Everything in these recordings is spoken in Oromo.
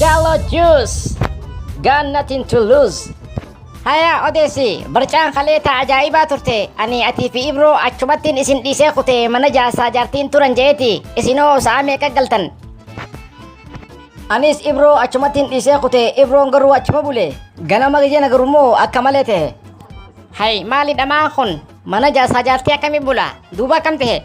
Galo Juice Got nothing to lose Hayaa odeessi barcaan kalee taa ajaa'ibaa turte ani atii fi ibroo achumattiin isin dhiisee kute mana jaarsaa jaartiin turan je'eeti isinoo sa'a meeqa galtan anis ibroo achumattiin dhiisee kute ibroon garuu achuma bule ganama gijena garummoo akka malee ta'e hay maali dhamaan kun Mana jaarsaa jaartii akkamii bula? Duuba akkam ta'e?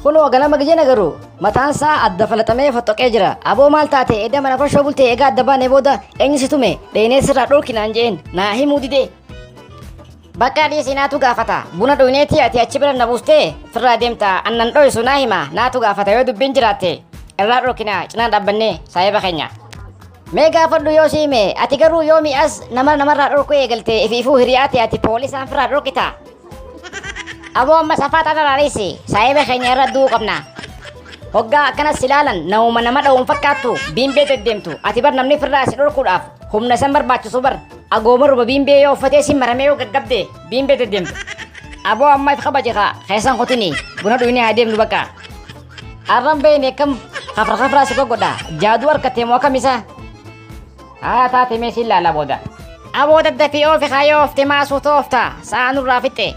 Kunoo ganama gijana garuu mataan isaa adda falaxamee foxxoqee jira. Aboo maal taate edda mana farshoo bultee egaa adda baanee booda eenyu si tume dheenee sirraa dhorki naan je'een naa himuu didee. Bakka dhiisii naatu gaafata. Buna dhugneetii ati achi bira na buustee firraa deemta annan dho'isu naa hima naatu gaafata yoo dubbiin jiraatte irraa dhorkinaa cinaan dhaabbannee saahiba keenya. Mee gaafadhu yoo si hime ati garuu yoomi as nama namarraa dhorkuu eegalte ifiifuu hiriyaa ta'e ati poolisaan firraa dhorkita. Aboo amma safaa xaxaraarisi saahiba keenya irra du'uu qabna. Hoggaa akkanas ilaalan namuma nama dha'uun fakkaattu biimbee deddeemtu ati bar namni firraa si dhorkuudhaaf humna san barbaachisu bar agooma ruba biimbee yoo uffatee si maramee yoo gaggabde biimbee deddeemtu. Aboo amma if kabaje kaa keessan kutini buna dhuyinee haa deemnu bakka. Arran beeyne akkam hafra hafraa si gogodha. Jaaduu harkattee moo akkam isaa? Haa taate mee si ilaala booda. Aboo daddafii oofi kaayoo oofte maa suuta oofta. Sa'a nurraa fixxe.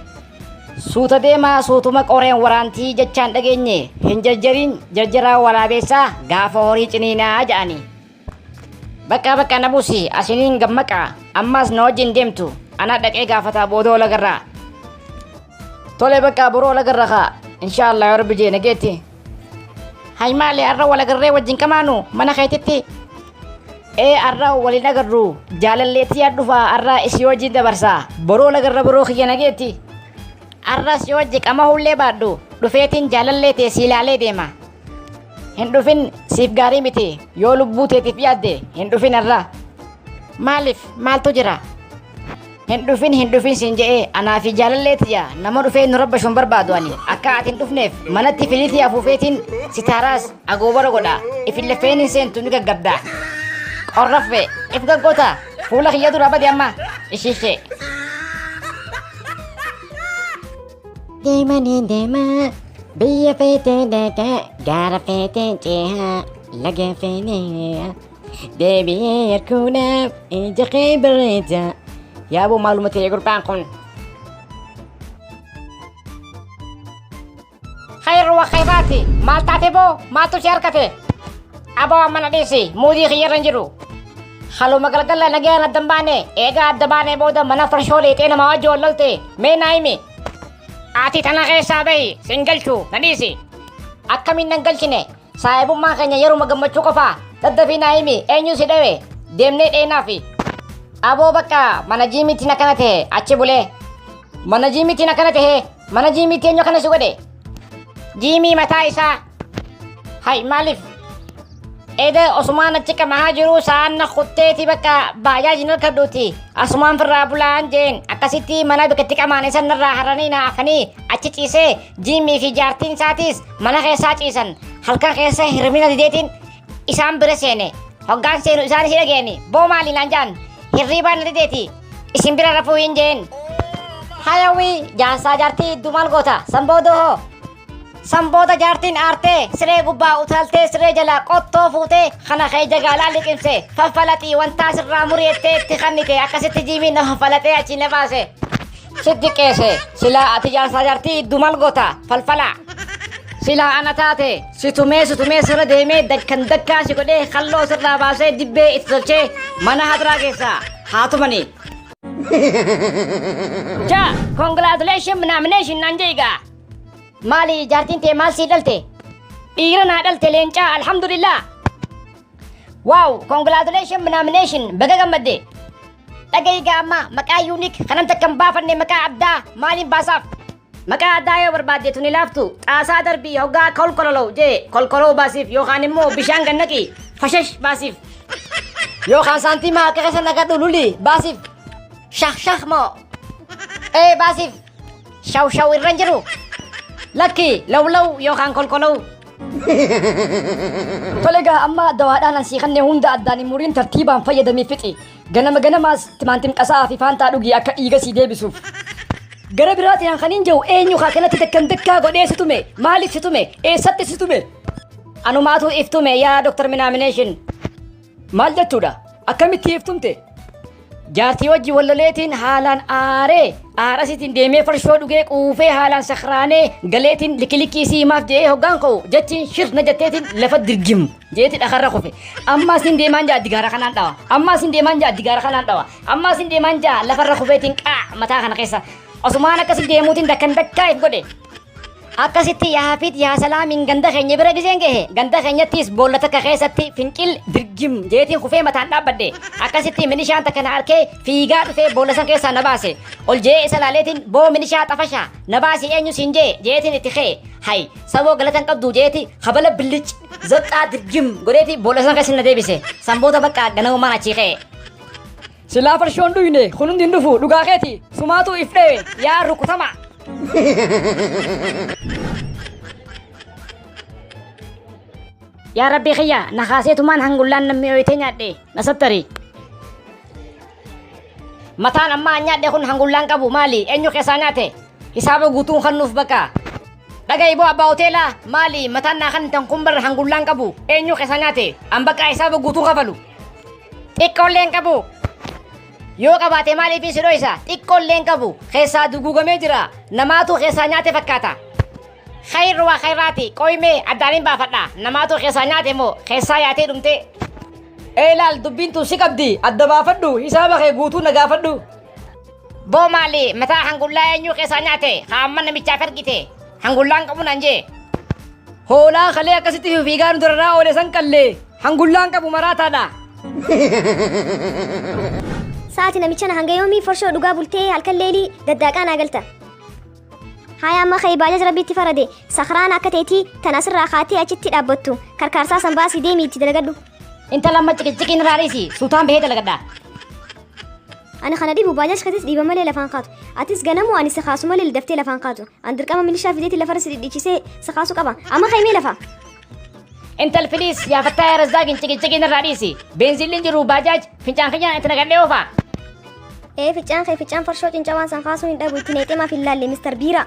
Suuta deemaa suutuma qoreen waraantii jechaan dhageenye hin jarjariin jarjaraa waraabeessaa gaafa horii ciniinaa ja'anii. Bakka bakka na buusi asiniin gammaqa ammaas na wajjin deemtu anaa dhaqee gaafataa booda wal agarraa. Tole bakka boroo wal agarra kaa inshaallah yoo rabbi jee nageetti. Hay maali har'a wal agarree wajjin qamaanu mana keetitti. Ee har'a waliin agarru jaalalleetti yaad dhufaa har'a isii wajjin dabarsaa boroo wal agarra boroo kiyya nageetti. Har'as yoo wajji qamahullee baadhu dhufeetiin jaalallee tee si ilaalee deema Hin dhufin siif gaarii miti yoo lubbuu teetiif yaadde hin dhufin irraa. Maaliif maaltu jira? Hin dhufin hin dhufin siin je'ee anaa fi jaalallee tiyya nama dhufee nu rabbashuun barbaadu ani akka ati hin dhufneef manatti filiitii afuufeetiin sitaaraas agoobara godha ifin lafeen hin seentu ni gaggabda. Qorraffe if gaggoota fuula kiyya dura bade amma ishishee. Deema ni deema biyya feetee dhaqa gaara feetee ceeha laga feenee deebi'ee yarkuudhaaf ija kee bareeda. Yaaboo maaluma ta'e gurbaan kun. Khayr wa khayraati maal taate boo maaltu si harkate. Aboo amma na dhiisi muudii kiyyarra hin jiru. Haluma galgala nagayaan addan baane eegaa adda baanee booda mana farshoo leexee namaa wajji wal lolte mee naa himi. Ati tana keessaa bahi sin galchu na dhiisi. Akkamiin nan galchine saahibummaa keenya yeruma gammachuu qofa daddafii naa himi eenyu si dhawe deemnee dheenaa fi. Aboo bakka mana jiimiitiin akkana ta'e achi bulee. Mana jiimiitiin akkana ta'e mana jiimiitii eenyu akkana si godhe. Jiimii mataa isaa Hay maaliif? Eeda osumaan achi qamahaa jiru sa'aan na kutteeti bakka baajaajiin harkadhuuti. Asumaan firraa bulaan jeen akkasitti mana bikkatti qamaan isan narraa haranii na afanii achi ciisee jiimmii fi jaartiin isaatiis mana keessaa ciisan halkan keessa hirmina dideetiin isaan bira seene. Hoggaan seenu isaan si dhageeni boo maali naan jaan hirriibaan na dideeti isin bira rafuu hin jeen. Hayawii jaarsaa jaartii idduu maal goota sanboodoo hoo San booda jaartiin aartee siree gubbaa utaaltee siree jalaa qottoo fuutee kana kee jagaalaa liqimse faffalaxii wantaa sirraa muri'ettee itti kannite akkasitti jiimiin na faffalaxee achii na baase. Sitti qeese silaa ati jaarsaa jaartii iddu mal gota falfalaa. Silaa ana taate si tumee si tumee sirra deemee dakkan dakkaa si godhee kalloo sirraa baasee dibbee itti tolchee mana hadraa keessaa haa tumanii. Ja, congratulations nomination naan jee egaa. Maali jaartiin tee maal sii dhalte? Dhiira naa dhalte leencaa alhamdulillah. Wow, congratulations nomination baga gammadde. Dhagahi gaa amma maqaa yuunik kanan takka hin baafanne maqaa addaa maaliin baasaaf? Maqaa addaa yoo barbaadde tuni laaftu xaasaa darbii hoggaa kolkololoo jee kolkoloo baasiif yookaan immoo bishaan gannaqi fashash baasiif. Yookaan saantimaa akka keessa nagadhu luli baasiif. Shah shah moo. Ee baasiif. Shaw shaw irra hin jiru. Lakki law law yookaan kolkolaw. Tole egaa amma dawaadhaan an sii kannee hunda addaan hin muriin tartiibaan fayyadamii fixi. Ganama ganamaas timaantim qasa'aa fi faantaa dhugii akka dhiiga sii deebisuuf. Gara biraatiin an kan hin jiru eenyu kaa kanatti dakkan dakkaa godhee si tume maaliif si tume eessatti si tume. Anumaatu iftume yaa Dr. Minaamination. Maal jechuudha? Akkamitti hiiftumte? Jaartii wajji walloleetiin haalaan aaree aarasiitiin deemee farshoo dhugee quufee haalaan sakraanee galeetiin likilikii sii maaf je'ee hoggaan ka'u jechiin shirna jetteetiin lafa dirgim jeeti dhakarra kufe ammaa siin deemaan ja'a digaara kanaan dhawa ammaa siin deemaan ja'a digaara kanaan dhawa ammaa siin deemaan ja'a lafarra kufeetiin qaa mataa kana keessa osumaan akkasi deemuutiin dakkan dakkaa if godhe Akkasitti yaa Hafiid yaa Salaamiin ganda keenya bira gizeen gahe ganda keenyattis boolla takka keessatti fincil dirgim jeetiin kufee mataan dhaabbadhe akkasitti minishaan takka na arkee fiigaa dhufee boolla san keessaa na baase ol je'ee isa laaleetiin boo minishaa xafasha na baasi eenyu siin jee jeetiin itti kee hay saboo galatan qabdu jeeti habala billic zaqqaa dirgim godheeti boolla san keessa na deebise sanboota bakka ganamumaan achii kee. Silaa farshoo hin dhuyne kun hundi hin dhufu dhugaa keeti sumaatu if dhewe yaa rukutamaa. Yaa rabbii kiyya na kaaseetumaan hangullaan nan mi'ooytee nyaadhe na sattari. Mataan ammaa nyaadhe kun hangullaan qabu maali eenyu keessaa nyaate hisaaba guutuun kan nuuf bakka. Dhaga'i boo abbaa hoteelaa maali mataan naa kan tan kun barra hangullaan qabu eenyu keessa nyaate an bakka hisaaba guutuu kafalu. Xiqqoolleen qabu. Yoo qabaate maaliif si dhoysa xiqqoolleen qabu keessaa duguugamee jira namaatu keessaa nyaate fakkaata. Khayr waa khayraati qoymee addaan hin baafadha namaatu keessaa nyaate moo keessaa yaatee dhumtee. Ee laal dubbiin tun si qabdi adda baafadhu hisaaba kee guutuu na gaafadhu. Boo maali mataa hangullaa eenyuu keessaa nyaate haa amma namichaaf ergite hangullaan qabu nan jee. Hoolaa kalee akkasitti fiigaa nu dararaa oole san qallee hangullaan qabu maraataadha. Sa'aati namicha na hanga yoomii forshoo dhugaa bultee halkan leelii daddaaqaa naa galta. Haaya amma ka'e baajaj rabbi itti farade sakraan akka teetii tan asirraa kaatee achitti dhaabbattu karkaarsaa san baasii deemii itti dalagadhu. Intala amma ciqiciqiin irraa dhiisi suutaan bahee dalagadha. Ani kana dhibu baajaaj katis dhiiba malee lafaan kaatu. Atis ganamu ani si kaasu malee daftee lafaan kaatu. An dirqama milishaa fideeti lafarra si dhidhiichisee si kaasu qaba. Amma kaimee lafa. Intal please yaa fattaa yaa razzaaqin ciqiciqiin irraa dhiisi. Beenziilliin jiru baajaaj fincaan kiyyaan itti naqadhee oofaa. Ee ficcaan kee ficcaan farshoo cincawaan san kaasuu hin dhabu itti neexee maaf hin laalle Mr. Biiraa.